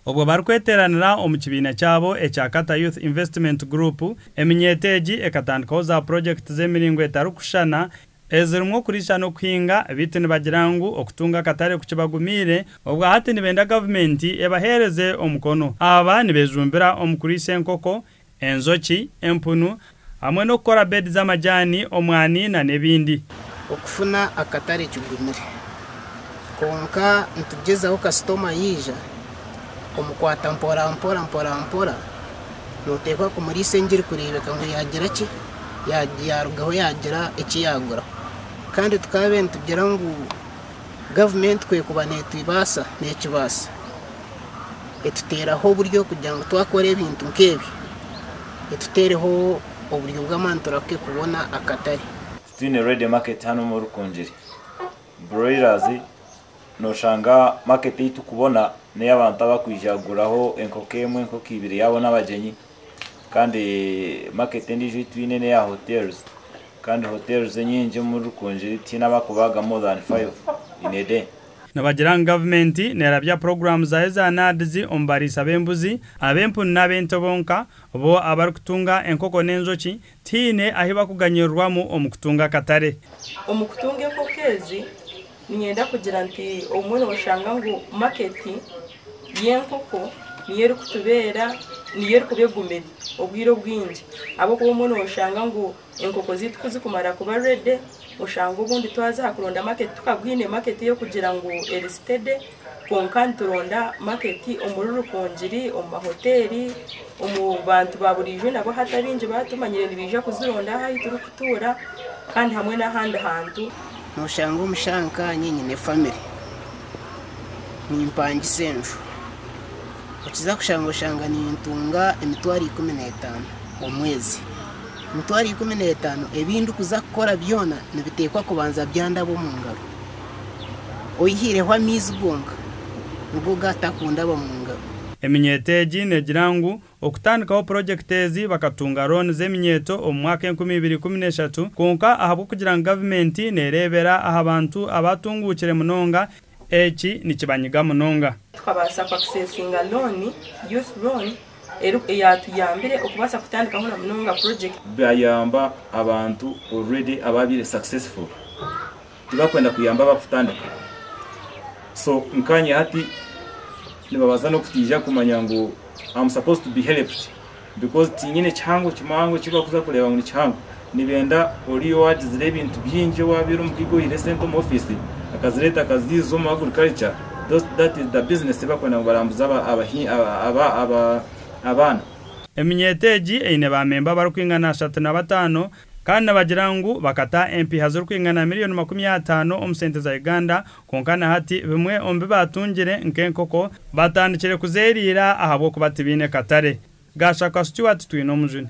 Obwo barikweteranira omu kibiina kyabo ekya Kata Youth Investment Group, eminyeeto egi ekatandikaho za purojekiti z'emiringo etarikushushana ezirimu okurisha n'okuhinga beitu nibagira ngu okutunga akatare kukibagumiire obwa hati nibenda gavumenti ebaheereze omukono. Aba nibejumbira omu kuriisa enkoko, enjoki, empunu, hamwe n'okukora beedi z'amajaani, omwani nana ebindi. Okufuna akatare kigumire kwonka nitugyezaho kasitoma yaija omukwata mporampora mporampora noteekwa kumuriisa engi erikureebeka ngu yaagira ki? yaarugaho yaagira eki yaagura kandi tukaabaire nitugira ngu gavumenti ku erikuba neetwibaasa neekibaasa. etuteeraho oburyo kugira ngu twakora ebintu nk'ebi etuteereho oburyo bw'amaani turahuke kubona akatare. Titwine ready market hanu omu Rukungiri. Broilers noshanga market ei turikubona n'ey'abantu abarikwija kuguraho enkoko emwe, enkoko ibiri yaabo n'abagyenyi kandi market endiijo ei twine n'eya hotels kandi hotels enyingi omu Rukungiri tihaine abarikubaagamu more than five in a day. Nibagira ngu gavumenti neerabya puroguraamu zaayo za NAADS omu bariisa b'embuzi, ab'empunu n'ab'ente bonka, bo abarikutunga enkoko n'enjoki tihaine ahi bakuganyirirwamu omu kutunga akatare. Omu kutunga enkoko ezi, niinyenda kugira nti obumwe nooshanga ngu maketi y'enkoko niyo erikutubeera, niyo erikuba egumire obwire obwingi ahabw'okuba obumwe nooshanga ngu Enkoko zaitu ku zikumara kuba ready oshange obundi twaza aha kuronda market tukagwine market ey'okugira ngu eri steady kwonka nituronda market omuri Rukungiri, omu ma hoteeri, omu bantu ba buriijo nabo hati abaingi ba tumanyire nibaija kuzironda aha ahi turikutuura kandi hamwe n'ahandi hantu. Nooshanga omu shaaha nkaanye nyine family, nimpangisa enju, okiza kushanga oshanga nintunga emitwaro ikumi n'etaano omwezi. Emitwaro ikumi n'etaano ebi ndikuza kukora byona nibiteekwa kubanza byandaba omu ngaro. Oihaireho amaizi gonka nigo gatakundaba mu ngaro. Eminyeeto egi negira ngu okutandikaho purojekiti ezi bakatunga rooni z'eminyeeto omu mwaka enkumi ibiri ikumi n'eshatu kwonka ahabw'okugira ngu gavumenti neereebera aha bantu abaatunguukire munonga, Eki nikibanyiga munonga. Tukabaasa kwa kusesinga looni, Youth Loan, eri eyatuyambire okubaasa kutandikaho na munonga project. Byayamba abantu already ababaire successful. Tibakwenda kuyamba abakutandika. So nkanye hati nibabaasa n'okutiija kumanya ngu am supposed to be helped. Because tinyine kihango kimwango ekibakuza kureba ngu nikihango nibenda oriya owagizire ebintu byingi owabire omukiga oyire sente omu office akazireta akaziza omu agriculture those that is the business ebakwenda ngu barambuze abaana. Eminyeeto egi eine ba memba abarikwingana ashatu na bataano kandi nibagira ngu bakata empiiha zirikwingana miriyoni makumi ataano omu sente za Uganda Kwonka na hati bimwe omu bi baatungire nk'enkoko baatandikire kuzeeriira ahabw'okuba tibaine katare. Gashaka Stuart Twine omujuni.